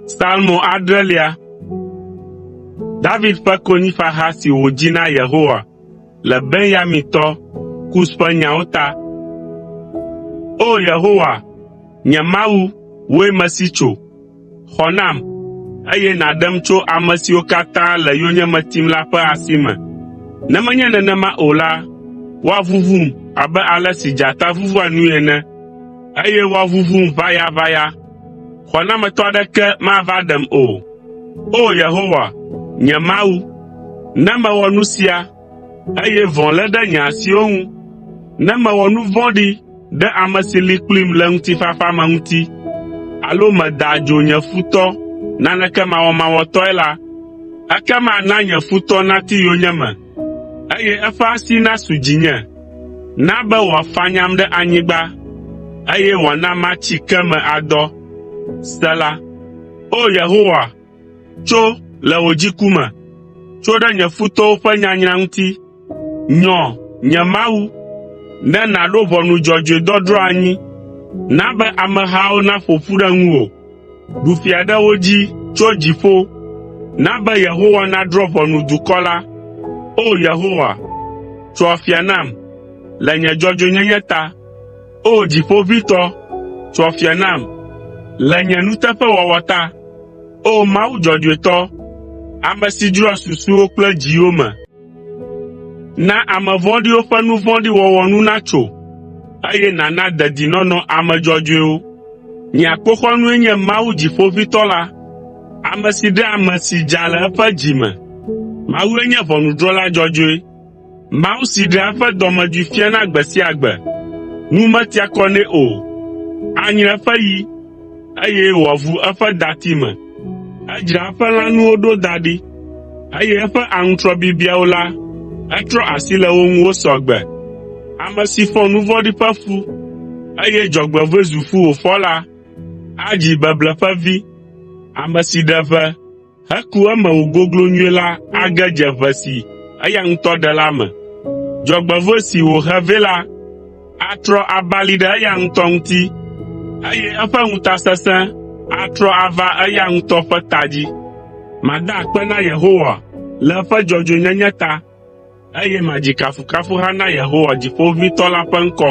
Salmo adrelia. David ƒe konyifaha si wòdzi na Yehowa le Benyamintɔ Kus ƒe nyawo ta. O Yehowa, nye Mawu, wòe mesi tso. Xɔ nam, eye nàɖem tso ame siwo katã le yonyeme tim la ƒe asi me. Ne menye nenema o la, woaʋuʋum abe ale si dzata ʋuʋua nui ene, eye woaʋuʋum ʋayaʋaya. Xɔnametɔ aɖeke mava ɖem o. O! Yehowa, nye Mawu, ne mewɔ nu sia, eye vɔ̃ lé ɖe nye asiwo ŋu, ne mewɔ nu vɔ̃ɖi ɖe ame si li kplim le ŋutifafa me ŋuti, alo meda adzo nye futɔ naneke mawɔmawɔtɔe la, ekema na nye futɔ nati yonyeme, eye eƒe asi nasu dzinye. Na be wòafanyam ɖe anyigba, eye wòana matsi ke me adɔ. Sela Tso le wò dziku me, tso ɖe nye futɔwo ƒe nyanyra ŋuti. Nyɔ, nye Mawu, ne nàɖo ʋɔnu dzɔdzɔe dɔdrɔ̃ anyi. Na be amehawo naƒo ƒu ɖe ŋuwò. Ɖu fia ɖe wo dzi tso dziƒo. Na be Yehowa nadrɔ̃ ʋɔnu dukɔ la. O Yehowa, tso afia nam le nye dzɔdzɔenyenye ta. O Dziƒoʋĩtɔ, tso afia nam, le nye nuteƒewɔwɔ ta. O Mawu dzɔdzɔetɔ, ame si dzroa susuwo kple dziwo me, na ame vɔ̃ɖiwo ƒe nu vɔ̃ɖi wɔwɔ nu natso, eye nàna dedinɔnɔ ame dzɔdzɔewo. Nye akpoxɔnue nye Mawu Dziƒoʋĩtɔ la, ame si ɖea ame si dza le eƒe dzi me. Mawue nye ʋɔnudrɔ̃la dzɔdzɔe. Mawu si ɖea eƒe dɔmedzoe fiana gbe sia gbe. Nu metia kɔ nɛ o. Anyre eƒe yi, eye wòavu eƒe dati me. Edzra eƒe lãnuwo ɖo da ɖi, eye eƒe aŋutrɔ bibiawo la, etrɔ asi le wo ŋu wo sɔ gbe. Ame si fɔ nu vɔ̃ɖi ƒe fu, eye dzɔgbevɔ̃e zu fu wòfɔ la, adzi beble ƒe vi, ame si ɖe ʋe. heku eme wògoglo nyuie la age dze ʋe si eya ŋutɔ ɖe la me. Dzɔgbevɔ̃e si wòhe vɛ la atrɔ abali ɖe eya ŋutɔ ŋuti, eye eƒe ŋutasesẽ atrɔ ava eya ŋutɔ ƒe ta dzi. Mada akpe na Yehowa le eƒe dzɔdzɔenyenye ta, eye madzi kafukafuha na Yehowa Dziƒoʋĩtɔ la ƒe ŋkɔ.